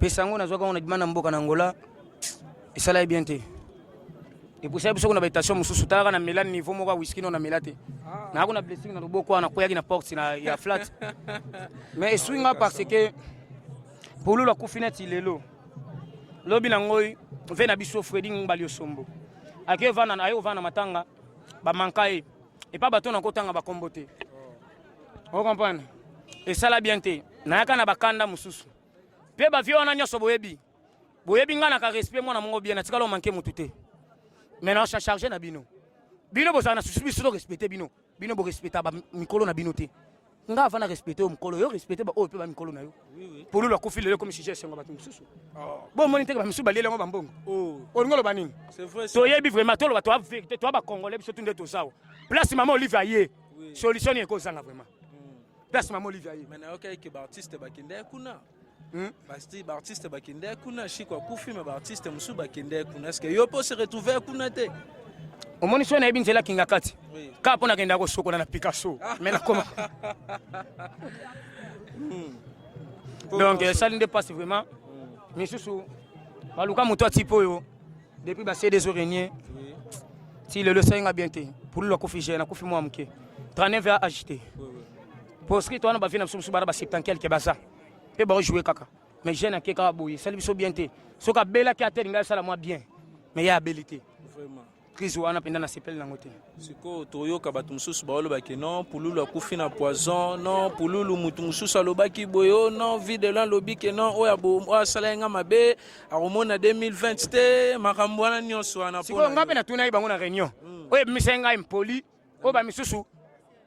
pesa yango nazwaka yango na bima na mboka na angola esala ye bien te epusaki biso kuna baetation mosusu talaka na mela niveau moko ya wiski no na mela te ah. nayako na blessing na loboko wana nakweyaki na porte na ya flat mais eswi nga parce que polulu akufi neti lelo lobi na ngoi ve na biso fredi ngbali osombo aye kovanda na matanga bamanka ye epa bato na kotanga bakombo te okomprane esala bien te nayaka na bakanda mosusu mpe bavie wana nyonso boyebi boyebi ngai naka respect mwana mongo bien natikala omanke motu te mai na charge na bino bino bozala na susu biso to respecte bino bino borespecta mikolo na bino te nga avant na respecte yo mokolo yo respecte baoyo mpe bamikolo na yo polulu akufi lelo ekomi sujet esengo bato mosusu oh. bomoni nteke bamisusu balieli yango bambongo oh. olingi oloba nini toyebi vraiment toloba toa verité toa bacongolais biso tu nde tozawa place mama olive aye solution nini ekozanga vraiment hmm. place mama olive aye Hmm? basti baartiste bakendaki kuna shiko akufi me baartiste mosusu bakendaki kuna eske yo mpo se retrouve kuna te omoni soki nayebi nzela kinga kati kaka mpo nakendaka kosokola na picasso ah. me nakoma hmm. donc esali nde mpasi vraiment hmm. misusu baluka moto atipe oyo depuis base des orenie ti lelo esalinga bien te pululu akufi je nakufi mwa moke 39 ya agite Proscrite wana ba vie na biso biso bana ba septentiel ke baza pe ba jouer kaka mais jeune ake kaka boye sali biso bien te soki abelaki ate lingai asala mwa bien mais ye abeli te vraiment crise wana mpenza nasepeli nango te sikoyo toyoka bato mosusu baolobaki non pululu akufi na poison non pululu moto mosusu alobaki boye o oh, non vie de lan lobi ke non oyo oyo asala ye nga mabe akomona 2020 te makambo wana nyonso wana sikoyo ngai mpe natunaki bango na réunion hmm. oyo ebimisa ye ngai impoli oyo ba misusu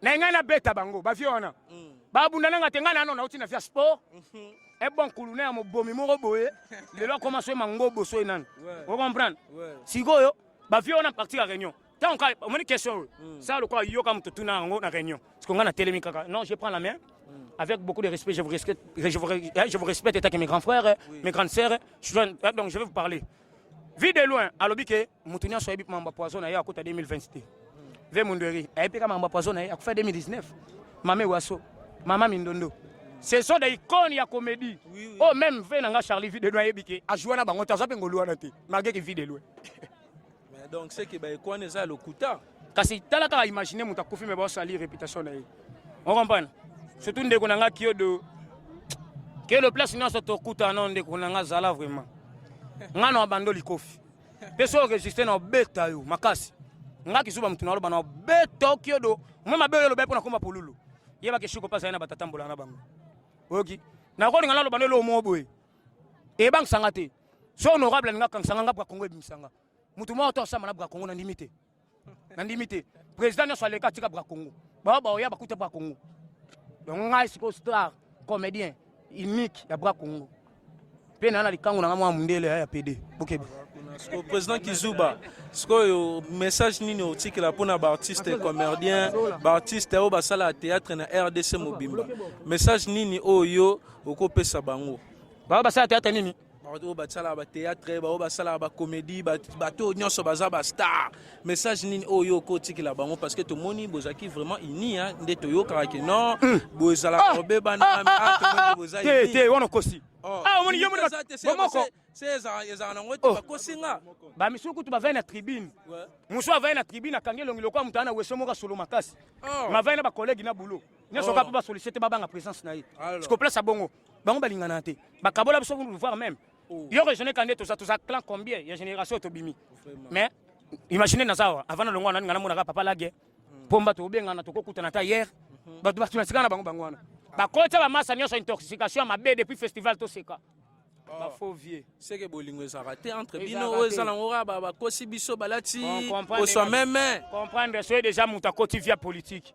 na ngai na beta bango ba vieux wana mm. ba bunda nanga te ngai na nona uti na via sport mhm. e bon kuluna ya mobomi moko boye lelo akoma soye mango boso ye nani o comprendre sikoyo ba vieux wana partir ya réunion ntango ka omoni question oyo mm. sala lokola yoka moto tuna yango na réunion siko ngai natelemi kaka non je prends la main mm. avec beaucoup de respect je vous respecte je vous, hein, je vous respecte état que mes grands frères oui. mes grandes sœurs je, hein, donc je vais vous parler vue de loin alobi ke moto nyonso ayebi mambo ya poison na ye akota 2020 te ve mundweri ayebi kaka mambo ya poison na ye akufa 2019 mame waso mama mindondo ce sont des icônes ya comédie oui, oui. oh même ve na nga charlie vie de loin ayebi ke ajoua na bango te aza mpe ngolu wana te malgré ke vie de loin donc ce que baeko wana eza ya lokuta kasi tala kaka imagine moto akufi me baosali réputation na ye okompane surtout ndeko na nga kiodo kiodo place nyonso tokutana ndeko na nga zala vraiment nga na bando likofi Mpe soki oresiste na obeta yo makasi. Nga kizuba mutu naloba na obeta okiodo. Mwa mabe oyo oloba mpo nakoma pululu. Yeba ke shiko pasa ye na batata mbola na bango. Oyoki? Nakolinga naloba na elo moko boye. Ebangisa nga te. So honorable alinga kangisa nga nga Bwakongo ebimisa nga. Mutu moko to asamba na Bwakongo nandimi te. nandimi te président nyonso aleka atika bra congo bao baoya bakuta bra congo donc ngai sikoyo star comédien unique ya bra congo mpe naa na likango na ngai mwa mondele ya pede bokebe sikoyo président kizuba sikoyo message nini otikela mpo na baartiste comerdien baartiste oyo basalaka théâtre na rdc mobimba message nini oyo yo okopesa bango bao basala théâtre nini bato oyo basalaka bateatre baoyo basalaka bakomedi bato oyo nyonso baza bastar message nini oyo yo okotikela bango parce que tomoni bozalaki vraiment uni nde toyokaka ke non hmm. bozalaka ah! kobebana ah, ah, boza te wana okosi oh. omoni yo moko ezalaka nango te oh. bakosi nga bamisulu kutu bavai na tribune mosu avai na tribune akangi elongi lokola moto ana weso moko asolo makasi oh. mavai na bakolege na boulot nyonso oh. kaka mpo basolisete babanga présence na ye sikoplasa bongo bango balingana te bakabola biso voir même oh. yo raisonne kande toza toza clan combien ya génération tobimi mais imagine naza awa avant na longwa nani ngana monaka papa lage hmm. pomba tobengana tokokutana ata hier mhm. bato bato nasikana bango bango wana bakotya bamasa nyonso intoxication ya mabe depuis festival toseka ah. faux vieux seke bolingo ezalaka te entre bino oyo eza nango kaka bakosi biso balati oswa meme comprendre soye déjà moto akoti via politique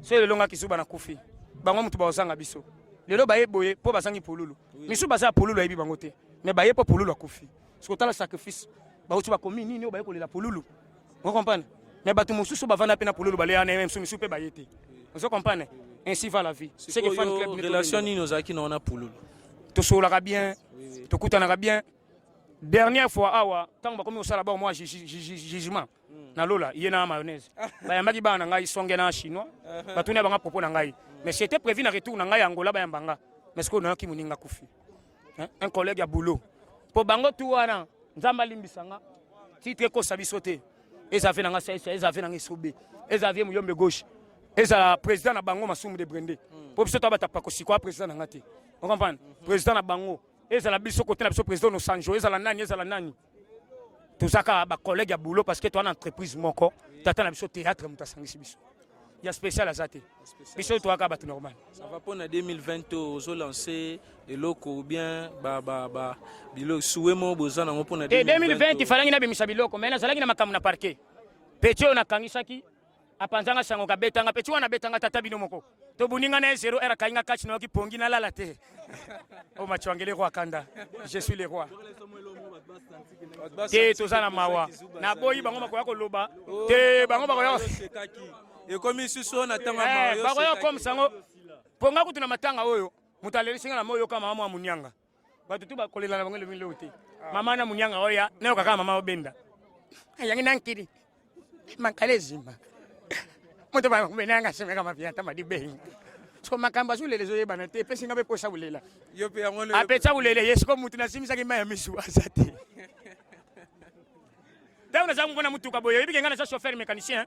soki lelo nga kisuba na kufi bango motu bakozanga biso lelo baye boye mpo bazangi pululu misu baza ya pululu ayebi bango te mais baye mpo pululu akufi soki otala sacrifice bauti bakomi nini oyo baye kolela pululu ozo comprendre mais bato mosusu bavanda mpe na pululu baleya na msu misu mpe baye te ozo comprendre ainsi va la vie seke fan club relation nini ozalaki na wana pululu tosololaka bien tokutanaka bien dernière fois awa ntango bakomi kosala bao mwa jugement hmm. na lola ye na mayonnaise bayambaki bana na ngai songe na chinois uh-huh. batuni ya banga propos na ngai hmm. mais c'était prévu na retour na ngai ya angola bayamba nga mais sikoyo nayaki moninga kufi un collègue ya boulot mpo bango tu wana nzambe alimbisa nga titre ekosa biso te eza ve na nga saisa eza ve na nga esobe eza vie muyombe gauche ezala président na bango masumu de brende hmm. mpo biso to batapa kosikoa président na nga te ocomprendre hmm. président na bango ezala biso kote na biso président nosanjo ezala nani ezala nani toza kaka bacollègue ya boulot parce que toa na entreprise moko tata na biso théâtre moto asangisi biso ya spécial aza te biso toa kaka bato normal sava mpo na 2020 to ozolanse eloko bien biloko suwe moko boza nango mpo na 2020 ifalangi nabimisa biloko mai nazalaki na makambo na parquet peti oyo nakangisaki apanzanga sango kabetanga pe wana betanga tata bino moko to buninga na 0 era kainga catch na kipongi na lala te o oh, machwangele roi kanda je suis le roi te toza na mawa na boyi bango makoya koloba oh, te bango bakoya ekomi susu na tanga eh, mawa bakoya comme sango ponga kutu na matanga oyo moto alelisinga na moyo kama mwa munyanga bato tu bakolela na bango elongi leo te ah. mama na munyanga oya nayoka kaka mama obenda ayangi na nkili mankala ezima moto babenanga semeka mafia ata madibengi so makambo azolela ezoyebana te epesi nga mpe mposa kolela apesa kolela ye siko motu nasimisaki mai ya misu aza te ntango naza komona motuka boye oyebi kenga naza chauffeur mécanicien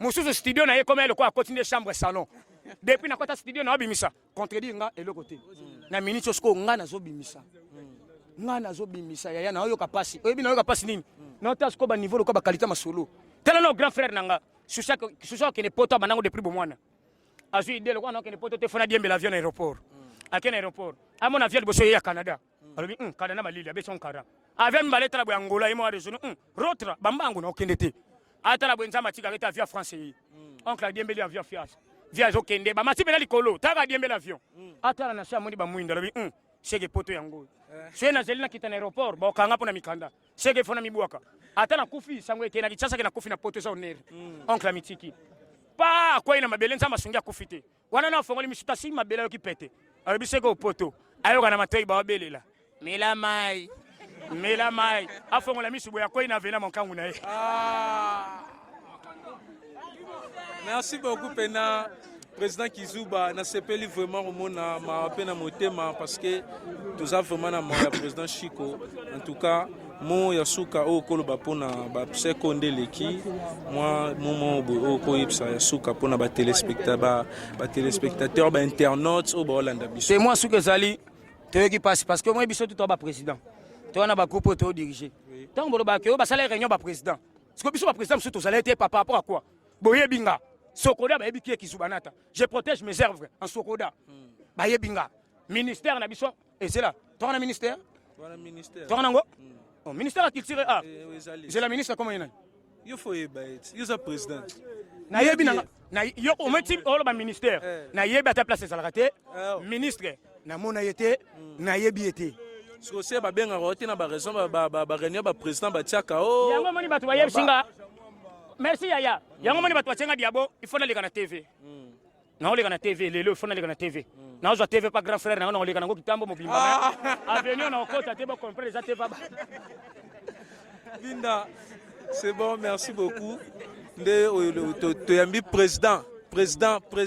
mususu studio na ye ekoma ye lokola akoti nde chambre salon depuis nakota studio na obimisa contredire nga eloko te na minute oyo sikoyo nga nazobimisa nga nazobimisa yaya naoyoka mpasi oyebi naoyoka mpasi nini naota sikoyo baniveau lokola bakalite masolo tala na grand frère na nga susu akende poto abandango depuis bomwana azwi ide lokola nakende poto te fona diembela avion na aéroport akende na aéroport amona avion liboso ye ya canada alobi um kada na malili abeti onkara avia mibale tala boye angola ye moko adesoni um rotra bambango na okende te atala boye nzambe atikaka ete avia france ye hmm. oncle adiembeli avia fias via azokende bamati mpena likolo taka adiembeli avion hmm. atala na se amoni bamwindo alobi um seke poto yango oyo eh. soki nazali nakita na aéroport bakanga mpo na mikanda seke efo na mibwaka ata nakufi sango eke na kinshasa ke nakufi na poto eza onere hmm. oncle amitiki pa akwei na mabele nzambe asungi akufi te wana na fongoli misu tasi mabela yoki pete alobi seke opoto ayoka na matoi baobelela mela mai mela mai afongola misu boye akwei na vena monkangu na ye ah. merci beaucoup pena président kizuba nasepeli vraiment komona mawa mpe na motema parce que toza vraiment na mawa ya président chico en tout cas Mo ya suka oyo koloba mpo na bapseko nde eleki mwa momo boye oyo koyebisa ya suka mpo na batelespectateur bainternautes oyo baolanda biso te mwa suka ezali toyoki mpasi parce que omoi biso tutoa baprésident toa na bagroupe oyo todirige ntango bolobaka oyo basala réunion baprésident siko biso baprésident mosusu tozalai te papa rapport a quoi boyebi nga sokoda bayebi kie kizubanata je protège mes œuvres en sokoda hmm. bayebi nga ministère na biso ezela toka na ministère toka nango hmm. oh, ministère ya culture a ah. eh, eh, zela ministre koma ye nani yo fo oyeba ye ti yo oza président nayebi nanga yo ometi oloba ministère eh. nayebi ata place ezalaka te ministre namona ye te hmm. nayebi ye te sikoyo se babengaka yo te na baraison bareunion baprésident batiaka o oh. yango omoni bato bayebisi nga merci yaya yango omoni bato batyenga diabo il faut naleka na tv hmm. naoleka na tv lelo ifo naleka na tv mm. nazwa tv pa grand frère nango naoleka nango kitambo mobimba ah. avenir naokota te bocomprendre eza te paba linda c'est bon merci beaucoup nde oyo toyambi président président président